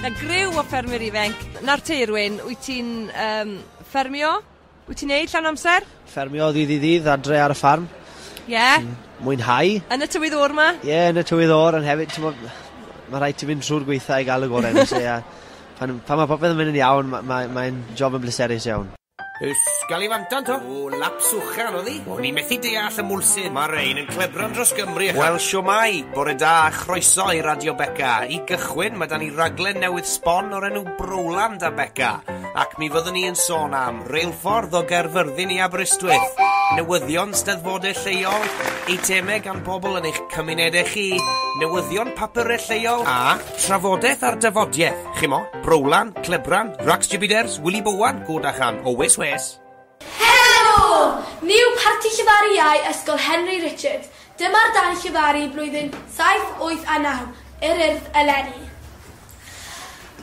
'Na griw o ffermwyr ifenc. Nawr te Irwyn, wyt ti'n um, ffermio? Wyt ti'n neud llawn amser? Ffermio ddydd i ddydd adre ar y ffarm. Ie? Yeah. Mm, mwynhau. Yn y tywydd o'r ma? Ie, yeah, yn y tywydd o'r, yn hefyd, ti'n bod, mae rhaid ti fynd trwy'r gweitha i gael y gorau. so, yeah. pan, pan mae popeth yn mynd yn iawn, mae'n ma, ma job yn bleserus iawn. Ys Galifantan to? O, laps uchel oedd hi. O'n i methu deall y mwlsyn. Mae rhein yn clebran dros Gymru ac... Wel, siwmai, bore da a chroeso i Radio Beca. I gychwyn, mae 'da ni raglen newydd sbon o'r enw Browland a Beca, ac mi fyddwn ni yn sôn am reilffordd o Gaerfyrddin i Aberystwyth, newyddion steddfodau lleol, eitemau gan bobl yn eich cymunedau chi, newyddion papurau lleol a trafodaeth ar dafodiaith. Chimo, Browlan, Clebran, Rax Jibiders, Willy Bowan, Godachan, Owys Wes. Helo! Ni yw Parti Llefaru Iau Ysgol Henry Richard. Dyma'r dau llefaru blwyddyn saith, wyth a naw, yr Urdd eleni.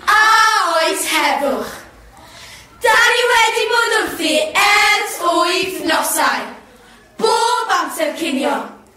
A oes heddwch? Da ni wedi bod wrthi ers wythnosau. Bob amser cinio.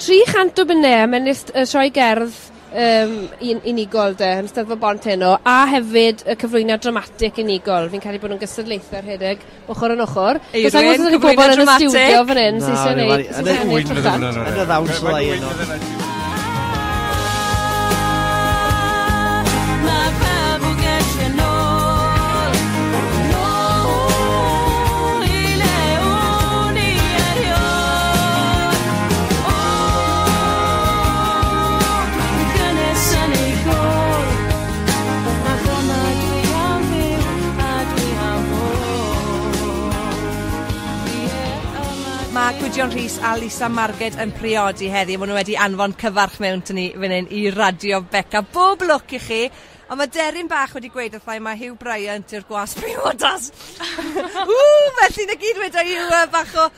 300 o bunne a mae'n ist- yy sioe gerdd yym un- unigol 'de yn Steddfod Bont heno a hefyd y cyflwyniad dramatic unigol fi'n credu bo' nw'n gystadlaethe rhedeg ochor yn ochor. Eirin cyflwyno dramatic. pobol yn y stiwdio fan 'yn sy isie neud sy isie ennill y cant. Yn y ddawns fyddai yno. Mae gŵyn fydde fe. Mae Gwydion Rhys a Lisa Marged yn priodi heddi. Mae nhw wedi anfon cyfarch mewn to ni fan hyn i Radio Beca. Bob lwc i chi. Ond mae deryn bach wedi gweud wrthai mae Hugh Bryant yw'r gwas priodas. Ww, felly na gyd wedi yw uh, bach o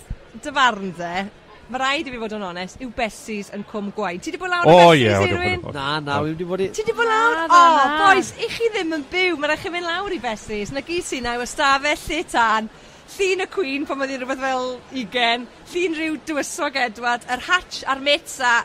Beth dy farn dde, ma raid i fi fod yn onest, yw Bessie's yn Cwm Gwaun. Ti di bod lawr i Bessie's, Irwyn? O ie, odw, odw. Na, na, wi wedi bod i... Ti di bod lawr? Na, na, na. O, bois, i chi ddim yn byw, ma raid chi mynd lawr i Bessie's. Na gy sy na yw ystafell lle tân, llun y Cwîn pan oedd hi'n rywbeth fel ugen, llun rhyw dywysog Edward, yr hatsh a'r mits a...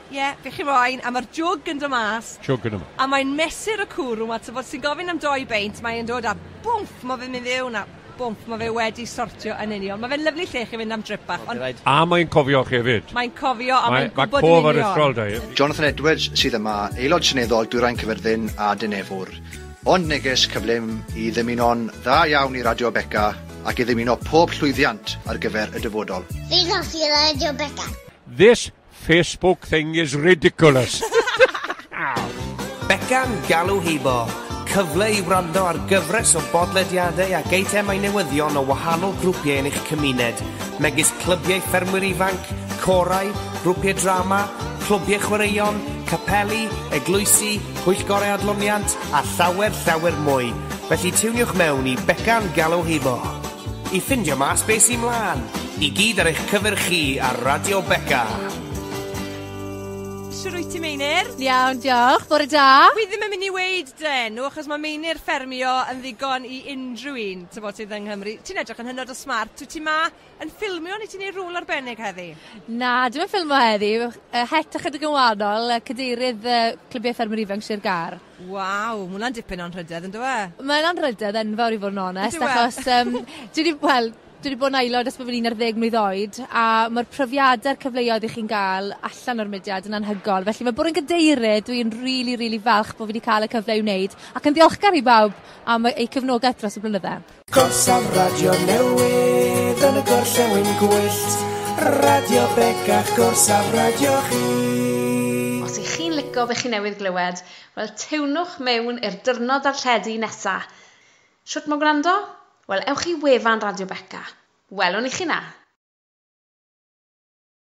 Ie, be chi moyn, a ma'r jwg yn do mas. Jwg yn do mas. A mae'n mesur y cwrw 'ma, t'bod, sy'n gofyn am dou beint, mae e'n dod a bwmff, ma' fe'n mynd fewn a bwmff, ma' fe wedi sortio yn union. Ma' fe'n lyfli lle i chi fynd am drip bach, ond... A mae'n cofio chi hefyd. Mae'n cofio a mae'n gwybod yn union. Mae cof aruthrol 'da hi. Jonathan Edwards sydd yma, Aelod Seneddol Dwyrain Caerfyrddin a Dinefwr. Ond neges cyflym i ddymuno'n dda iawn i Radio Beca ac i ddymuno pob llwyddiant ar gyfer y dyfodol. Diolch i Radio Beca. This Facebook thing is ridiculous. Beca'n galw heibo, cyfle i wrando ar gyfres o bodlediadau ac eitemau newyddion o wahanol grwpiau yn eich cymuned, megis clybiau ffermwyr ifanc, corau, grwpiau drama, clwbiau chwaraeon, capeli, eglwysi, pwyllgorau adloniant a llawer llawer mwy. Felly tiwniwch mewn i Beca'n galw heibo. I ffindio mas be sy mlan. I gyd ar eich cyfer chi ar Radio Beca. Shwt wyt ti, Meinir? Iawn, diolch. Bore da. Wi ddim yn mynd i weid den, nhw, achos mae Meinir ffermio yn ddigon i unrhyw un, ti'n bod, sydd yng Nghymru. Ti'n edrych yn hynod o smart. Wyt ti ma yn ffilmio neu ti'n ei rôl arbennig heddi? Na, dwi'n yn ffilmio heddi. Het ychydig yn wahanol, cadeirydd uh, Clybiau Ffermwyr Ifanc Sir Gar. Waw, ma' hwnna'n dipyn o anrhydedd yndyw e? Mae'n anrhydedd enfawr i fod yn onest... Ydyw e? ...achos yym dwi 'di, wel, dwi 'di bod yn aelod ers bo' fi'n un ar ddeg mlwydd oed a ma'r profiade a'r cyfleoedd 'ych chi'n ga'l allan o'r mudiad yn anhygoel felly ma' bod yn gadeirydd dwi'n rili rili falch bo' fi 'di ca'l y cyfle i wneud ac yn ddiolchgar i bawb am y- eu cefnogaeth dros y blynydde. Gorsaf radio newydd yn y gorllewin gwyllt, Radio Begach gorsaf radio chi. Os ych chi'n lico be chi newydd glywed, wel tewnwch mewn i'r dyrnod darlledu nesa. Shwt ma gwrando? Wel ewch i wefan Radio Beca. Welwn i chi na!